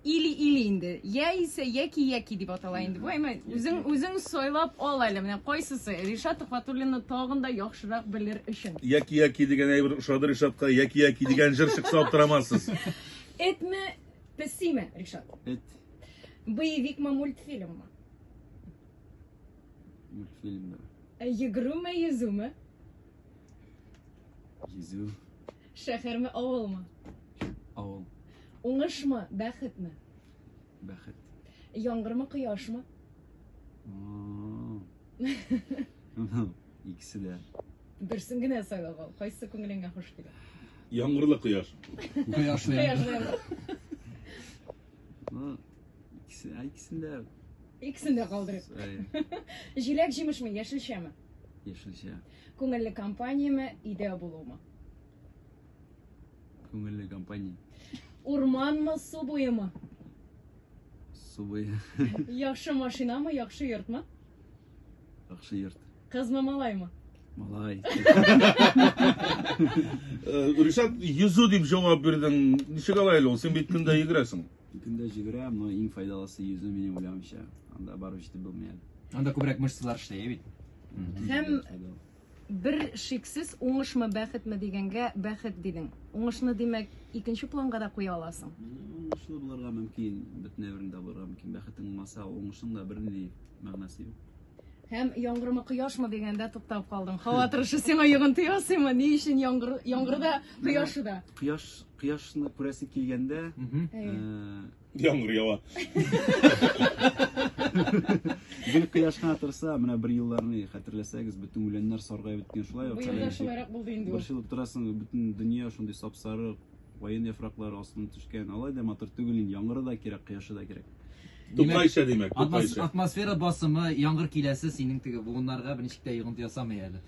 Или или инде. Я исә яки яки дип атала инде. Бу әмма үзең үзең сойлап ал әле. Менә кайсысы? Ришат Төхвәтуллинны тагын да яхшырак белер өчен. Яки яки дигән әйбер ошады Ришатка. Яки яки дигән җыр чыкса аптырамассыз. Этме, песиме, Ришат? Эт. Боевикмы, мультфильммы? Мультфильмнар. Йөгрүме, йөзүме? Йөзү. Шәхерме, авылмы? Авыл. Уңышмы, бәхетме? Бәхет. Яңгырмы, кояшмы? Икесе дә. Берсен генә сайлап ал. Кайсы күңелеңә хуш килә? Яңгырлы кояш. Кояш. Икесе, икесен дә. Икесен дә калдырып. Җиләк җимешме, яшелчәме? Яшелчә. Күңелле компаниямы, өйдә булуымы? Күңелле компания. Урманмы, су буемы? Су буе. Яхшы машинамы, яхшы йортмы? Яхшы йорт. Кызмы, малаймы? Малай. Э, Ришат, йөзү дип җавап бирдең. Ничек алай әле ул? Син бит көндә йөгерәсең. Көндә җигерәм, но иң файдалысы йөзү минем уйлавымча. Анда барып җитеп булмый әле. Анда күбрәк мышцалар эшләй бит. Һәм Бер шиксез, уңышмы, бәхетме дигәнгә, бәхет дидең. Уңышны, димәк, икенче планга да куя аласың? Уңышлы булырга мөмкин, бөтенләй берни дә булырга мөмкин. Бәхетең булмаса, уңышның да бернинди мәгънәсе юк. Һәм яңгырмы, кояшмы дигәндә туктап калдың. Һава торышы сиңа йогынты ясыймы? Ни өчен яңгыр, яңгырда, кояшыда? Кояш, кояшны күрәсе килгәндә, Мгм. Әйе. э, Яңгыр ява. Гел кояш кына торса, менә бер елларны хәтерләсәгез, бөтен үләннәр саргая беткән шулай ук. Бу елда шулайрак булды инде. Бер ел торасың, бөтен дөнья шундый сапсары, ваен яфраклары астына төшкән. Алай да матур түгел инде, яңгыры да кирәк, кояшы да кирәк. Тукайча димәк, тукайча. Атмосфера басымы, яңгыр киләсе синең теге буыннарга берничек тә йогынты ясамый әле.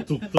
Тукта